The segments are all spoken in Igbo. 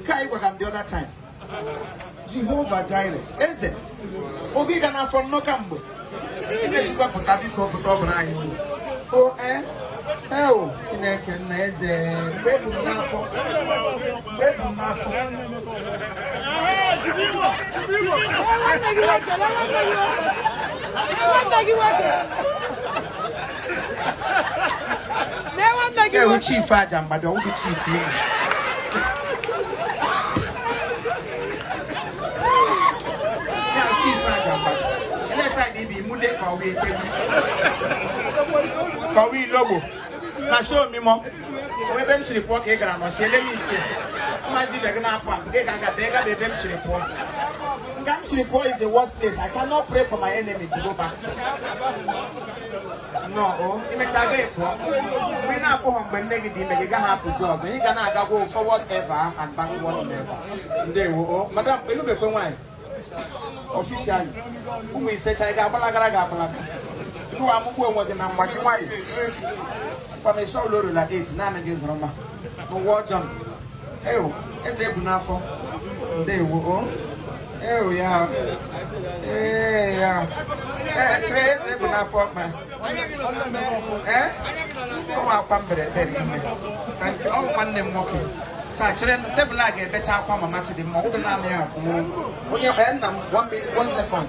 nke ị gwara m the other time jehova jire eze oge ịga n'afọ nnọ ka mgbe i mechakwa pụta biko pụta ọ bụla anyị o e eo chineke nna eze mgbe ebu m n'afọ mgbe ebu m n'afọ Thank you. Lee nwanne gị ewu nwoke. chief aja mgbada ọ wụdị chief ihu ya chief aja mgbada elesa dị ibi imude ka ọwa etewu ka ọwa ilogbo na show mimọ onwe ebe m siri pụọ ka ị gara nọsi ele m isi mmazi ibe gị na-apụ apụ gị ga-aga bịa gaba ebe m siri pụọ nga m siri pụọ is the worst place i cannot pray for my enemy to go back nnọọ i mecha gị pụọ mgbe ị na-apụghọ mgbe nne gị dị ime gị gaghị apụzi ọzọ ị ga na-aga aga forward ever and backward never ndewo o madam elubekwe nwaanyị officially ụmụ ise chara gị agbalagara gị agbalaga tụwa amụgbu onwe gị na mgbachi nwaanyị mkpamesha ụlọ orula 8 naanị gị zụrụ ma n'ụwa ọjọọ ewu eze ebu n'afọ ndewo o ewu ya ee ya chere eze ebu n'afọ ma ee ụmụ akwa mberede n'ime ka nke ọ bụ nwanne m nwoke taa chere table a ga-ebecha akwa mama chidimma ụdị naanị ya akwụ onye nna m one second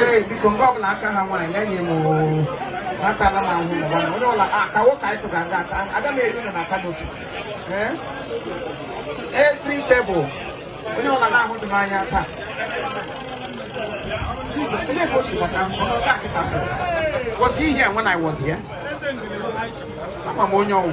ee biko nke ọbụla aka ha nwaanyị ya nye m natala m ahụ ụwa na onye ọla aka nwoke anyị tụga nga aka aga m eri na aka n'otu ee tri table onye ọla na-ahụ dị m anya taa onye ka o si bata ọ nọdụ akịta kwụsị ihe a nwa na iwọzi ya ama m onye ọ wụ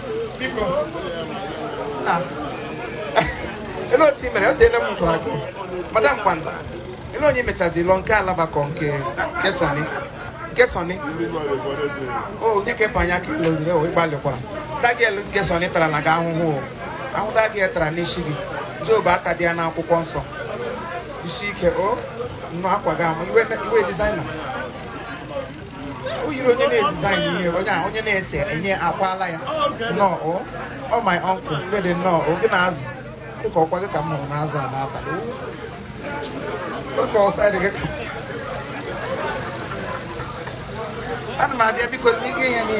ele otu i mere o teela m nkụrụ akụ madam kwanda ele onye mechazi lọ nke alabakọ nke nke sọni nke sọni o onye ka ịpanya ka ị lụziri o ị gbalịkwara di gị elu nke sọni tara na gị ahụhụ o ahụhụ di gị ya tara n'isi gị job atadị ya n'akwụkwọ nsọ isi ike o nnọọ akwa gị ama iwe iwe designer yiri onye na-edesign ihe onye ahụ onye na-ese enye akwala ya nnọọ ọ my uncle dede nnọọ gị na azụ dịka ọ kwa gị ka m hụrụ n'azụ a n'abalị dịka ọsa dị gị ka ana m abịa biko ihe ya n'ihe